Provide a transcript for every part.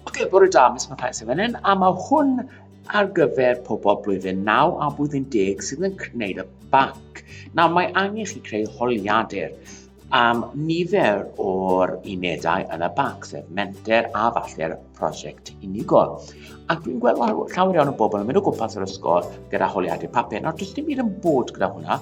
Ok, bore da, mis mae Thais yn fan hyn, a mae hwn ar gyfer pobl blwyddyn 9 a blwyddyn 10 sydd yn gwneud y banc. Nawr, mae angen chi creu holiadur am nifer o'r unedau yn y banc, sef menter a falle'r prosiect unigol. Ac dwi'n gweld llawer iawn o bobl yn mynd o gwmpas yr ysgol gyda holiadau papur. Nawr, does dim un yn bod gyda hwnna,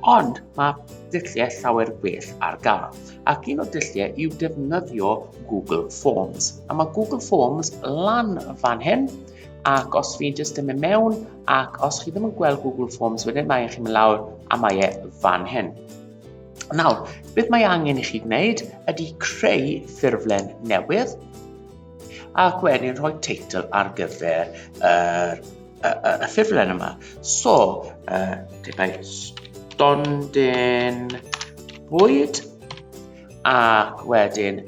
ond mae dulliau llawer gwell ar gael. Ac un o'r dulliau yw defnyddio Google Forms. A mae Google Forms lan fan hyn, ac os fi'n jyst yn mynd mewn, ac os chi ddim yn gweld Google Forms wedyn, mae eich chi'n mynd lawr a mae e fan hyn. Nawr, beth mae angen i chi wneud ydy creu ffurflen newydd ac wedyn rhoi teitl ar gyfer yr, y, y, y ffurflen yma. So, uh, debau stondin bwyd ac wedyn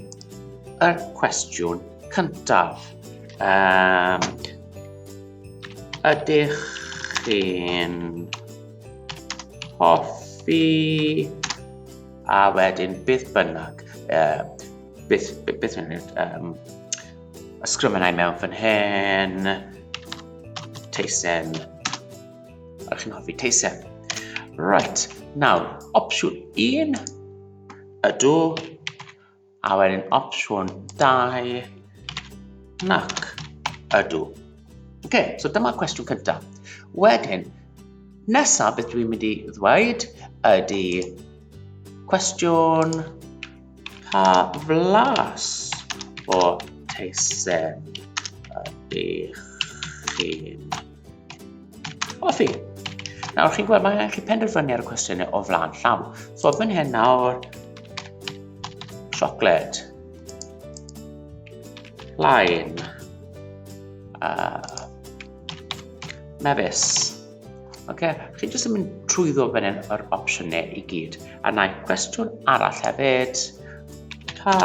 y cwestiwn cyntaf. Um, ydych chi'n hoffi a wedyn beth bynnag, uh, beth, beth, beth bynnag, um, ysgrifennau mewn fan hyn, teisen, a chi'n hoffi teisen. Right, nawr, opsiwn 1, ydw, A wedyn opsiwn 2, nac ydw. Oce, okay, so dyma cwestiwn cyntaf. Wedyn, nesaf beth dwi'n mynd i ddweud ydy cwestiwn pa flas o teisen ydych chi'n Ofi. Nawr chi'n gweld, mae angen chi penderfynu ar y cwestiynau o flaen llaw. So fan hyn nawr, chocolate, plaen, uh, mefus. Okay. Chi jyst yn mynd trwyddo fan hyn yr opsiynau i gyd. A na i cwestiwn arall hefyd, pa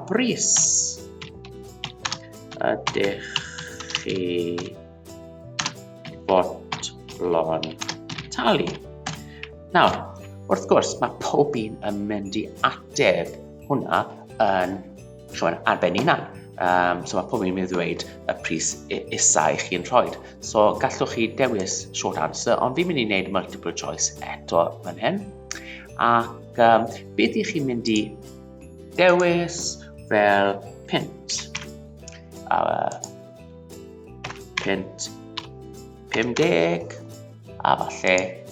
bris ydych chi fodlon talu. Nawr, wrth gwrs, mae pob un yn mynd i ateb hwnna yn rhywun ar ben unan. Um, so mae pob un yn mynd i ddweud y pris isau i chi'n rhoi. So gallwch chi dewis short answer, ond fi'n mynd i wneud multiple choice eto fan hyn. Ac um, beth i chi'n mynd i dewis fel pint? Uh, punt 50 a falle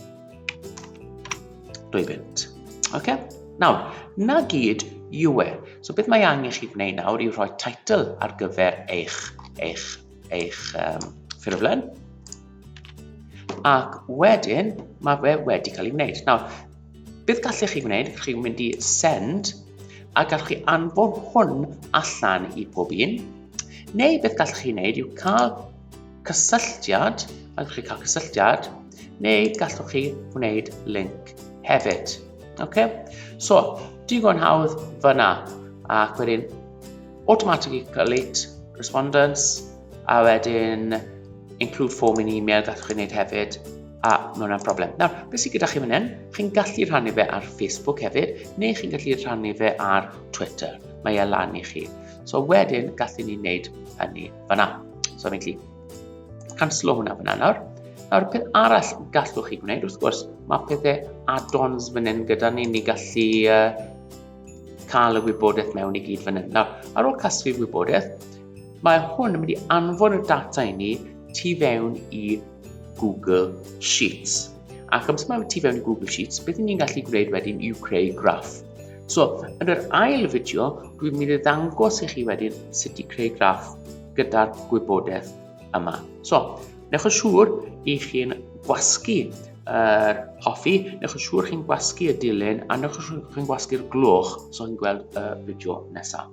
2 punt. Okay? Nawr, na gyd yw e. So beth mae angen chi wneud nawr yw rhoi title ar gyfer eich, eich, eich um, ffurflen. Ac wedyn, mae fe wedi cael ei wneud. Nawr, Beth gallech chi wneud? Gallwch chi mynd i send a gallwch chi anfon hwn allan i pob un. Neu beth gallwch chi wneud yw cael cysylltiad, a gallwch chi cael cysylltiad, neu gallwch chi wneud link hefyd. Okay? So, digon hawdd fyna, ac wedyn automatically collate respondents, a wedyn include form in email gallwch chi wneud hefyd, a mae hwnna'n problem. Nawr, beth sydd gyda chi fan hyn? Chi'n gallu rhannu fe ar Facebook hefyd, neu chi'n gallu rhannu fe ar Twitter. Mae e lan i chi. So wedyn, gallu ni wneud hynny fanna. So fi'n gallu canslo hwnna fanna nawr. Nawr, peth arall gallwch chi gwneud, wrth gwrs, mae pethau add-ons fan hyn gyda ni, ni gallu uh, cael y wybodaeth mewn i gyd fan hyn. Nawr, ar ôl casglu wybodaeth, mae hwn yn mynd i anfon y data i ni tu fewn i Google Sheets. Ac amser mae ti fewn i Google Sheets, beth ni'n gallu gwneud wedyn yw creu graff. So, yn yr ail fideo, dwi'n mynd i ddangos i chi wedyn sut i creu graff gyda'r gwybodaeth yma. So, newch yn siŵr i chi'n gwasgu yr hoffi, newch yn siŵr chi'n gwasgu y dilyn a newch yn siŵr chi'n gwasgu'r gloch so chi'n gweld y fideo nesaf.